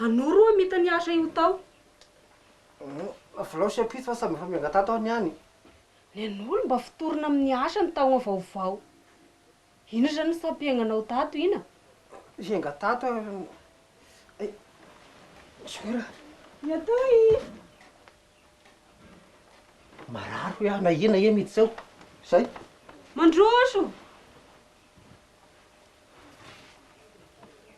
Anoro oa mita ny asa io tao. Avolao sy ampitso fa samy efa miangatato aho niany. Ny an'olo mba fotorina amin'ny asa ny taogna vaovao. Ino zany ny sampiaignanao tato ina? Hiangatato aho ny ay Zoky ra. Ny atoy! Marary hoy aho na ina e mity zao. Zay. Mandroso!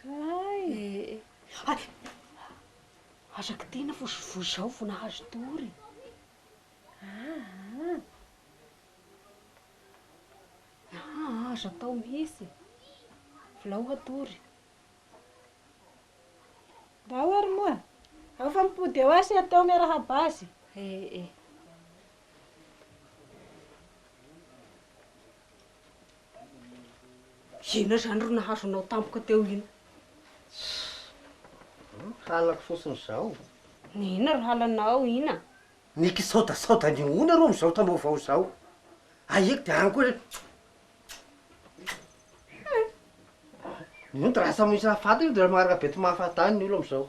Kay ee. Hay! Aza kitihina fa ozy voa izao vao nahazo tory e. Aa. Aa aza atao mihitsy e. Volao hatory. Mba ao ary moa. Ao fa mipody eo aho sy hety ao miarahaba azy. Ee e. Inona izany ry nahazo anao tampoka teo iny? Halako fotsiny izao. Ny inona ry halanao iny a? Ny kisaodasaoda ny oona ro amin'izao taom-baovao izao. Ahiako dia any koa re. Nony rasa misy hahafaty io dia maharaka be tsy mahafaty any ny olona amin'izao.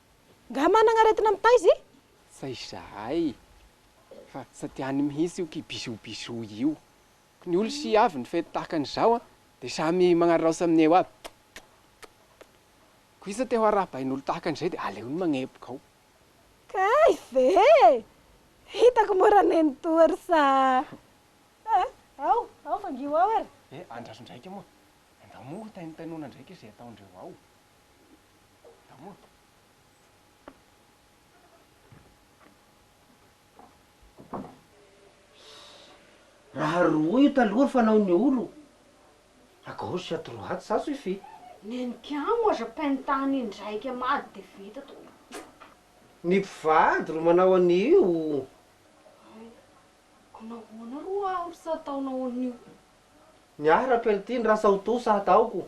Nga managna aretina mitaiza i? Fa izahay fa sady any mihitsy io ki bisou bisou io. Ko ny olo si avy ny fety tahaka an'izao an de samy magnaraosa amin'ny eo aby. Ko isa te ho arahabain'olo tahaka an'izay de aleony magnepoka ao. Kay ve? Hitako mora neny toa ry sa a! Ao, ao fangio ao ary. Eh, andraso ndraika moa. Andao moa ho taintainona ndraika izay ataondreo ao. Raha roa io taloha ry fanaon'ny olo, à gauche à droite ça suffit. Neniko ihany moa aza pentant indraika mady dia vita tompoko. Ny mpivady ro manao an'io. Hay, ko nahoana ro aho ro tsy ataonao an'io. Ny ahy raha peltiny rasa ho to sa hataoko.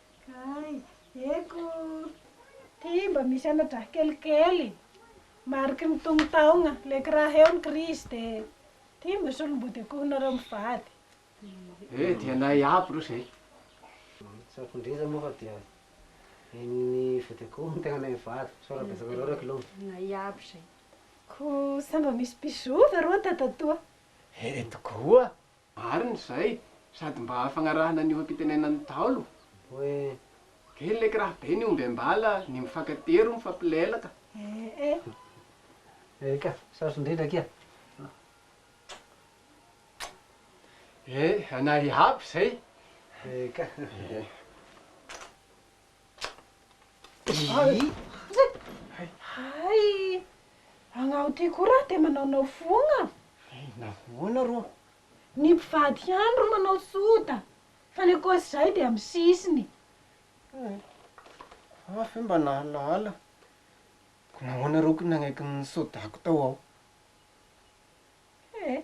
Kay, eko! Ty mba misy ana-draha kelikely, mariky ny tongon-taogna, le ky raha eo ny krizy de ty mba solom-body akoho nareo mivady. Eh, dia anay aby reo zay. Tsapon-driza moa fa dia henon'ny vody akoho ny tegnanay mivady, sao raha betsaka loatra kilo. Anay aby zay. Ko sa mba misy mpizoa va roa tatatoa? Eh, tokoa! Marina izay, sady mba hahafagnarahana ny oha-pitenenan'ny Ntaolo hoe, Kely leky raha be ny omby am-bala, ny mifankatia ro mifampilelaka. Eka, sarotra indrindra akia. Ee, anay iaby izay. Eka. Hay! Agnao ty koa raha te manaonao fogna? Nahoana rô? Ny mpivady ihany ro manao soda, fa ny ankoatr'izay dia amin'ny sisiny. Hay! Aho ve mba nahalala? Nahoana rô ko nanaiky ny sodako tao aho? He!